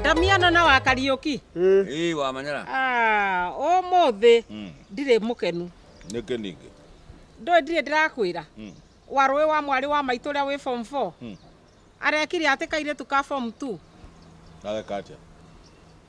Ndamiano na wa Kariuki. Ii wa manyara. Ah, umuthi Mm. ndirĩ mũkenu. Nĩkĩ ningĩ? Ndũĩ ndirĩ ndĩrakwĩra. Mm. Wa rũĩ wa mwarĩ wa maitũ ũrĩa wĩ form 4. Mm. Arekire atĩ kairĩtu ka form 2. Areka atĩa?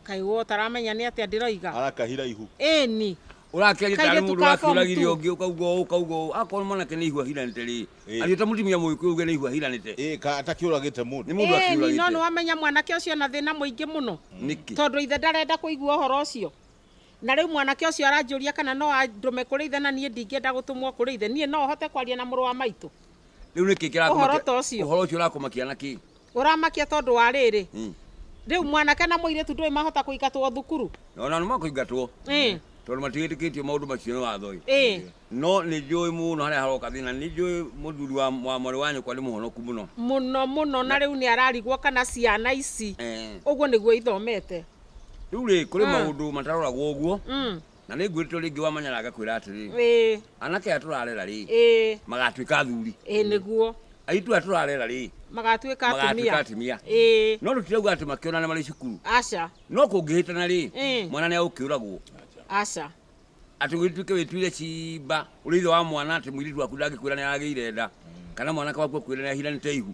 Kaĩ we ũtaramenya nĩ atĩa ndĩroiga. Arakahira ihu. Ĩni. Ũrakĩaria tarĩ Kairĩtu mũndũ ka form ũrakĩũragiria two. ũngĩ ũkauga ũũ ũkauga ũũ. Akorwo mwanake nĩ ihu ahiranĩte rĩ. Ĩĩ. agĩta mũtumia mũgĩkũyũ ũgĩa nĩ ihua hiranĩte Ĩĩ, ka atakĩũragĩte mũndũ nĩ mũndũ Ĩĩ, nino akiũragĩte nĩwamenya mwanake ũcio na thĩna mũingĩ mũno nĩkĩ tondũ ithe ndarenda kũigua ũhoro ũcio na rĩu mwanake ũcio aranjũria kana no andũme kũrĩ ithe na niĩ ndingĩenda gũtũmwo kũrĩ ithe niĩ no hote kwaria na mũrũ wa maitũ rĩu nĩkĩ kĩrakũmakia- Ũhoro ta ũcio. ũhoro ũcio ũrakũmakia na kĩ Ũramakia tondũ wa rĩrĩ. Mm. Rĩu mwanake na mũirĩtu ndũĩ mahota kũingatwo thukuru. Ona nĩ makũingatwo. Mm. Tondũ matiĩtĩkĩtio maũndũ macio nĩ watho ĩ. Eh. No nĩ njũĩ mũno harĩa haroka thĩna. Nĩ njũĩ mũthuri wa mwarĩ wa nyũkwa nĩ mũhonoku mũno. Mũno mũno na rĩu nĩ ararigwo kana ciana ici. Eh. Ũguo nĩguo ithomete. Rĩu rĩ kũrĩ ah. maũndũ mataroragwo ũguo. Mm. na nĩ ngwĩrĩte ũrĩa ingĩ wamanyara agakwĩra atĩrĩ ĩĩ anake aya tũrarera rĩ ĩĩ magatuĩka athuri ĩĩ nĩguo aitũ aya tũrarera rĩ magatuĩka magatuĩka atumia atumia ĩĩ no tũtirauga atĩ makĩonana marĩ cukuru aca no kũngĩhĩtana rĩ Mm. mwana nĩ agũkĩũragwo aca atĩ wĩtuĩke wĩtuire cimba ũrĩ ithe wa mwana atĩ mũirĩtu waku ndangĩkwĩra nĩ aragĩire nda kana mwanake waku akwĩra nĩ ahiranĩte ihu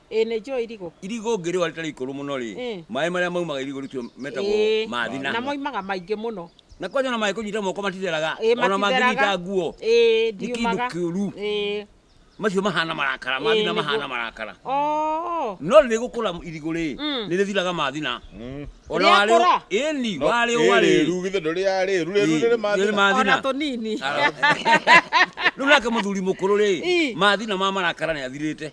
Ĩĩ nĩ njũĩ irigũ. Irigũ ũngĩrĩũa rĩtarĩ ikũrũ mũno-rĩ, Ĩĩ. maĩ marĩa maumaga irigũ rĩu metagwo Ĩĩ. ma thina. Na moimaga maingĩ mũno. Na kwanja ona mangĩkũnyita moko matitheraga, Ĩĩ ona matitheraga. mangĩnyita nguo, Ĩĩ nĩ kĩndũ ndiumaga. kĩũru. Ĩĩ. Macio mahana marakara, ma Ĩĩ, thina nĩguo. mahana marakara. Oo. No rĩrĩgũkũra irigũ-rĩ, Mm. nĩrĩthiraga ma thina. Mm. Ona warĩũ- Rĩakũra? Ĩĩni, No, warĩũa ĩ rĩrĩ. rĩru, githĩ ndũrĩaga rĩru, rĩru Ĩĩ, nĩrĩ ma nĩrĩ thina. ma thina. Ona tũnini. Rĩu nake mũthuri mũkũrũ-rĩ, Ĩĩ. ma thina ma marakara nĩathirĩte.